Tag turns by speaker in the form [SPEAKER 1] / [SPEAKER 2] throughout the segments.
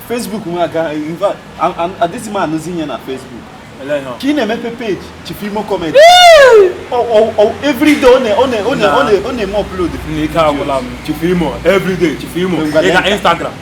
[SPEAKER 1] Facebook nwa aga in fact adịghị m anụzi ihe na Facebook ka ị na-emepe page chief imo comedy everyday ọ na-eme upload
[SPEAKER 2] chief imo everyday chief imo ị ga Instagram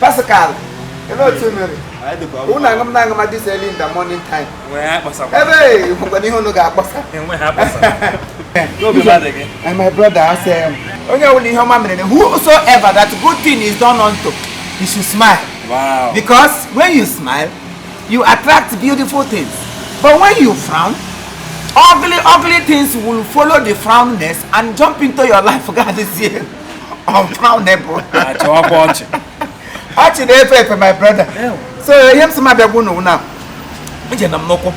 [SPEAKER 3] Pascal unu aṅụ m na aṅụ ma this early in the morning time ebe nwere ihe unu
[SPEAKER 2] ga-akpọsa my brother a
[SPEAKER 3] sị onye ọbụla ihe ọma mere whosoever that good thing is done unto you should smile because
[SPEAKER 2] when you
[SPEAKER 3] smile You attract beautiful things. But when you frown, ugly, ugly things will follow the frownness and jump into your life. God is here. Unfrownable. Ọchị na-efe efe my brother. So ihe m sị m bịa gwa unu wụ na ije nọ m n'ụkwụ.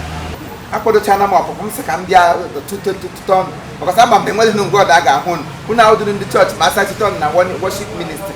[SPEAKER 3] Akwadochana m ọpụpụ m sị ka m bịa tụtụtụtụ ọnụ. Because ama m na enweghị nga ọdọ a ga-ahụ unu. Unu ahụ dịrị ndị chọọchị ma asachite ọnụ na worship ministry.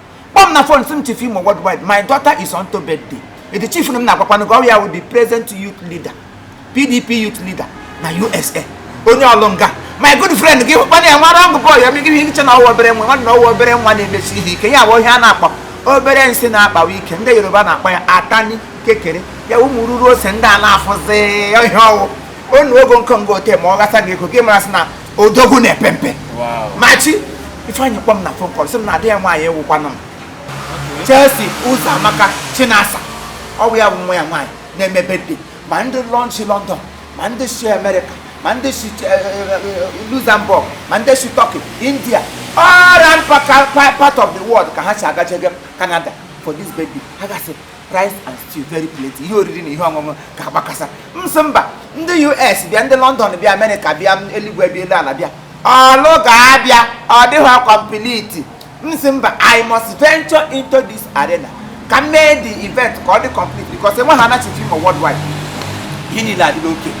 [SPEAKER 3] kpọọ m na fon sị m chief imo worldwide my daughter is on to birthday edi chief na m na-akpakwanụ gị ọ wụ ya wụ the present youth leader pdp youth leader na usa onye ọlụnga my good friend gị hụkwana ya nwara ọgụ bọọlụ ya megide ihe i chee na ọ wụ obere nwa nwanne ọ wụ obere nwa na-emesi ihe ike ya bụ ihe a na-akpọ obere nsị na-akpawa ike ndị yoruba na-akpọ ya atani kekere ya ụmụ ruru ose ndị a na-afụzi ihe ọ wụ onu ogo nkenga ote ma ọ ghasa gị ego gị mara sị na odogwu na-epe mpe machi ifeanyị kpọ m na phone call sị m na ada ya nwaanyị wụkwanụ m Chelsea ụzọamaka chinasa ọ wụ ya wụ nwa ya nwaanyị na-eme birthday ma ndị lọn si London ma ndị si Amerịka ma ndị si eh, eh, eh, Luxembourg ma ndị si Turkey India all around part of the world ka ha si agajege Canada for this birthday a ga-esi rice and stew very plenty ihe oriri na ihe ọṅụṅụ ga-agbakasa m sị mba ndị us bịa ndị london bịa amerịka bịa eluigwe bịa elu ala bịa ọlụ ga-abịa ọ dịghị complete m sị mba i must venture into this arena ka m mee the event ka ọ dị complete because enwe ha anachichi ma worldwide ihe niile adịla okay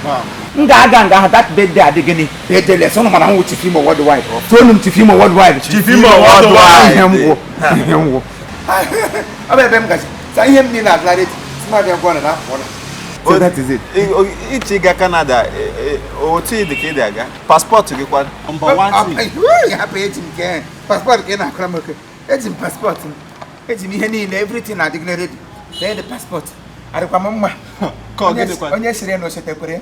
[SPEAKER 3] m ga-aga nga ahụ that birthday adị gịnị birthdayless unu ma na m wụ chief imo worldwide toonụ m chief imo worldwide chief imo worldwide
[SPEAKER 2] ihe m wụ ihe m wụ
[SPEAKER 3] ọ bụ ebe m gaje so ihe m niile adịla ready sị m bịa gwa unu na apụọla so that is it ichi ga
[SPEAKER 1] Canada otu ị dị ka ị dị a ga paspọtụ gị kwanụ hapụ
[SPEAKER 3] eji m nke paspọtụ ka ị na-akọrọ m okay eji m paspọtụ m eji m ihe niile everything adịgịla ready lee dị paspọtụ adịkwa m mma onye siri na o chetakwere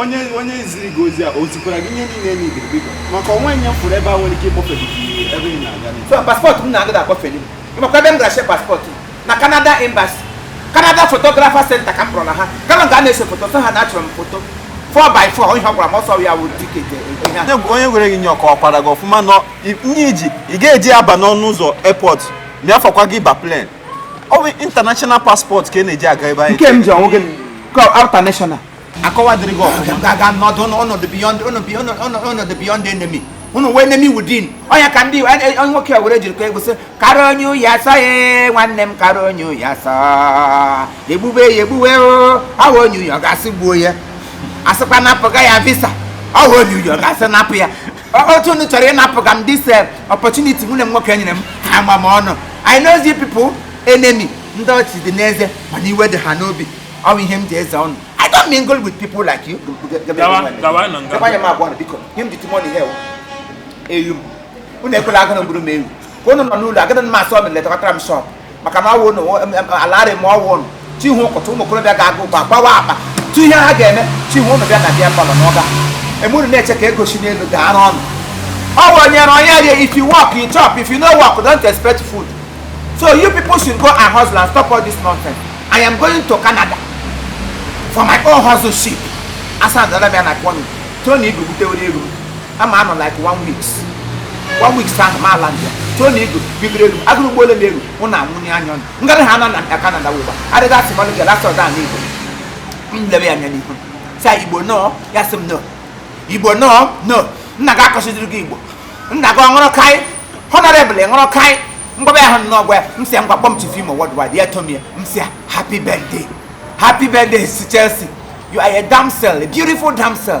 [SPEAKER 3] onye onye ziri gị ozi
[SPEAKER 1] a o zikwara gị ihe niile n'ibiri biko maka o nwe nye fọrọ ebe a nwere ike ịkpọfe gị ebe ị na-aga paspọtụ m na-agada
[SPEAKER 3] akpọfeli m maka ebe m gara see paspọtụ na Canada Embassy Canada Photographer Center ka m kpọrọ na ha kama ga na-ese foto sị ha na-achọrọ m foto 4x4 ihe ọ gwara m ọ sọ ya wụ tiketi onye gwara gị nye ọ
[SPEAKER 1] kọwakwara gị ọfụma nọ nye ị ga-eji aba n'ọnụ ụzọ airport mịafọkwa gị ba plen ọ bụ international passport ka ị na-eji aga ebe anyị nke m ji ọ wụghị
[SPEAKER 3] ka outer national a kọwadịrị
[SPEAKER 1] gị ọfụma gaga nọdụ
[SPEAKER 3] n'ọnọdụ beyond enemy unu wụ enemy within ọnya ka ndị onye onye nwoke a were jiri ka egwusị kara onye uyi asa ya nwanne m kara onye uyi asa egbube ya egbuwe ọ wụ onye uyi ọ ga-asị gbuo ya a sịkwa napụ ga ya visa ọ wụ onye uyi ọ ga-asị napụ ya otu unu chọrọ ịnapụ ga m this eh, opportunity nwanne m nwoke nyere m ama m unu I know these people enemy ndị ọchị dị n'eze mana iwe dị ha n'obi ọ bụ ihe m ji eze unu I don't mingle with people like you. Gawa, gawa
[SPEAKER 2] na nga. Gawa ma agwa na biko. Nye
[SPEAKER 3] m the money here. Ewu m. Unu ekwela agụụ na-egburu m ewu. Ka unu nọ n'ụlọ, agada m asọ m lekọtara m shọp. maka na ọ wụ alarị m ọ wụ ụnụ chi họ ka otu ụmụ okorobịa ga-agụ ụgba gbawa akpa tu ihe ha ga-eme chi họ ụnụ bịa na beer parlour nọga emuru na-eche ka ego si n'elu ga-eru ụnụ ọ bụ onye na onye rie if you work you chop if you no work don't expect food so you people should go and hustle and stop all this nonsense i am going to canada for my own hustleship a sị na dọla bịa na kwọnụ tony igwe butewere ego ama m anọ like one weeks one weeks ahụ m a-land Tony Igwe bibiri elu agụrụ ụgbọ ole na-eru mụ na nwunye anya ọnụ ngarị ha na na Canada wụba adịghị asị mmanụ gị lasa ọda n'igbo m lebe ya anya n'ihu sị igbo nọ ya sị m nọ igbo nọ nọ nna gị akọchidiri gị igbo nna gị ọ ṅụrụ kaị honorable ṅụrụ kaị mgbaba ya hụ nnọọ gwa ya m sị ya ngwa kpọọ m chief imo worldwide ya kpọọ m ya m sị ya happy birthday happy birthday to Chelsea you are a damsel a beautiful damsel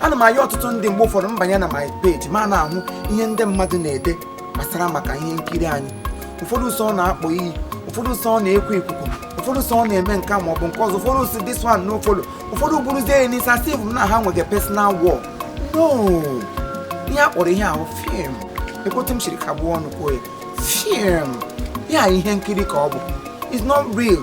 [SPEAKER 3] ana m ayọ ọtụtụ ndị mgbe ụfọdụ m banye na my page ma na-ahụ ihe ndị mmadụ na-ede gbasara maka ihe nkiri anyị ụfọdụ sọ na-akpọ iyi ụfọdụ sọ na-ekwu ikuku ụfọdụ sọ na-eme nke a ma ọ bụ nke ọzọ ụfọdụ sị this one no follow ụfọdụ buruzie ya n'isi a sị mụ na ha nwere personal war no ihe a kpọrọ ihe ahụ fim lekwa otu m siri kagbuo ọnụ kwuo ya fim ya ihe nkiri ka ọ bụ it's not real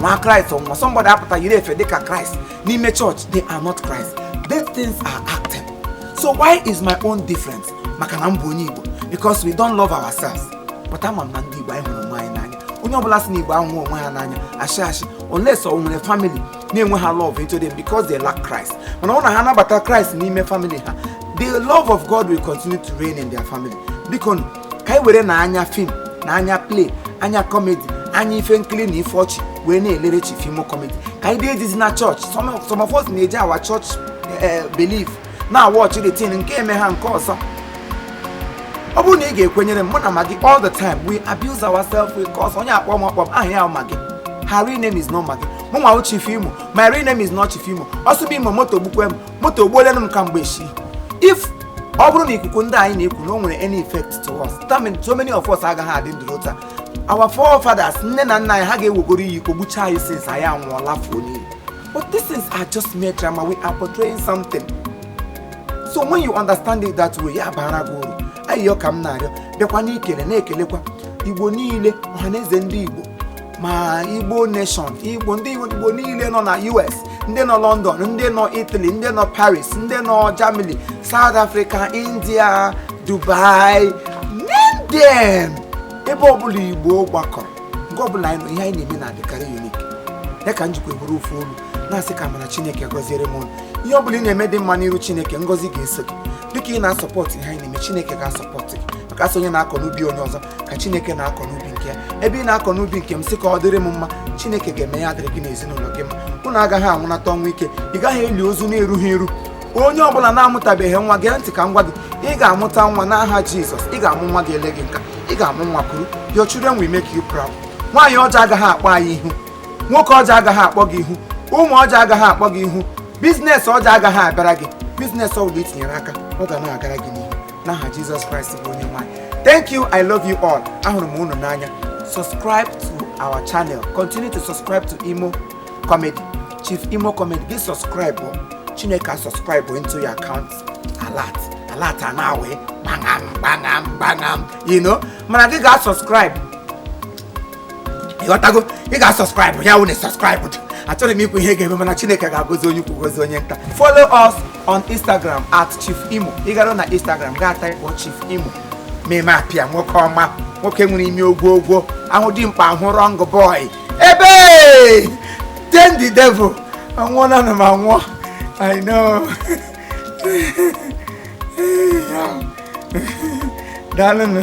[SPEAKER 3] nwa kraịst ọnwụnwa somebody apụta yiri efe dịka kraịst n'ime chọọchị they are not christ these things are acting so why is my own different maka na m bụ onye igbo because we don't love ourselves but ama m na ndị igbo anyị hụrụ onwe anyị n'anya onye ọbụla sị na igbo ahụhọ onwe ha n'anya asị asị unless o nwere family na-enwehọ love into them because they lack christ mana ọ na ha anabata christ n'ime family ha the love of god will continue to reign in their family biko ka anyị were na anya fim na anya play anya kọmedi anya ife nkiri na ife ọchị wee na-elere chief imo kọmedi ka anyị dee dizi na chọọchị some of us na-eji our chọọchị belief na-awatch everything nke eme ha nke ọzọ ọ bụrụ na ị ga-ekwenyere m mụ na magi all the time we abuse ourselves we curse onye akpọ m akpọ m aha ya magi her real name is not magi mụ nwa wụ chief imo my real name is not chief imo ọsụbụ imo moto gbukwe m moto egbuolanụ m kamgbe eshi if ọ bụrụ na ikwu okwu ndị anyị na-ekwu na o nwere any effect to us that means so many of us agaghị adị ndụ ruo taa our forefathers nne na nna anyị ha ga-ewegoro iyi ka o gbuchaa anyị since anyị anwụọla fuo n'iyi but these things are just mere drama we are portraying something so when you understand it that way ya bara gị uru ayịyọ ka m na-arịọ bịakwa n'ikele na-ekelekwa igbo niile ọhaneze ndị igbo ma igbo nation igbo niile nọ na us ndị nọ london ndị nọ italy ndị nọ paris ndị nọ germany south africa india dubai name them ebe ọbụla igbo gbakọrọ nke ọbụla anyị nọ ihe anyị na-eme na-adịkarị unik ya ka m jikwa buru ofu olu na-asị ka mana chineke gọziere m ihe ọbụla ị na-eme dị mma n'iru chineke ngọzi ga-eso gị dịka ị na-asọpọtụ ihe anyị na-eme chineke ga-asọpọtụ gị maka a sị onye na-akọ n'ubi onye ọzọ ka chineke na-akọ n'ubi nke ya ebe ị na-akọ n'ubi nke m sị ka ọ dịrị m mma chineke ga-eme ya adịrị gị n'ezinụlọ gị mma unu agaghị anwụnata ọnwụ ike ị gaghị eli ozu na-erughị eru onye ọbụla na-amụtabeghị nwa gee ntị ka m gwa gị ị ga-amụta nwa n'aha jizọs ị ga-amụ nwa ga-ele gị nka ị ga-amụ nwa kuru your children will make you proud nwaanyị ọjọọ agaghị akpọ anyị ihu nwoke ọjọọ agaghị akpọ gị ihu ụmụ ọjọọ agaghị akpọ gị ihu biznes ọjọọ agaghị abịara gị biznes ọbụla i tinyere aka ọ ga na-agara gị n'ihu n'aha jizọs kraịst bụ onye nwe anyị thank you i love you all ahụrụ m unu n'anya subscribe to our channel continue to subscribe to imo comedy chief imo comedy gị subscribe o. chineke a subscribe o into your account alert alert a na-awụ gbangam gbangam gbangam you know mana gị ga subscribe ịghọtago ị ga subscribe ya wụ na subscribe achọrọ m ikwu ihe ga-eme mana chineke ga-agọzi onye ukwu gozi onye nta follow us on Instagram at Chief Imo ị gara na Instagram gaa taịpụ Chief Imo meme apịa nwoke ọma nwoke nwere ime ogwo ogwo ahụ dị mkpa ahụ rọng bọị ebe then the devil anwụọnanụ m anwụọ I know daalụnụ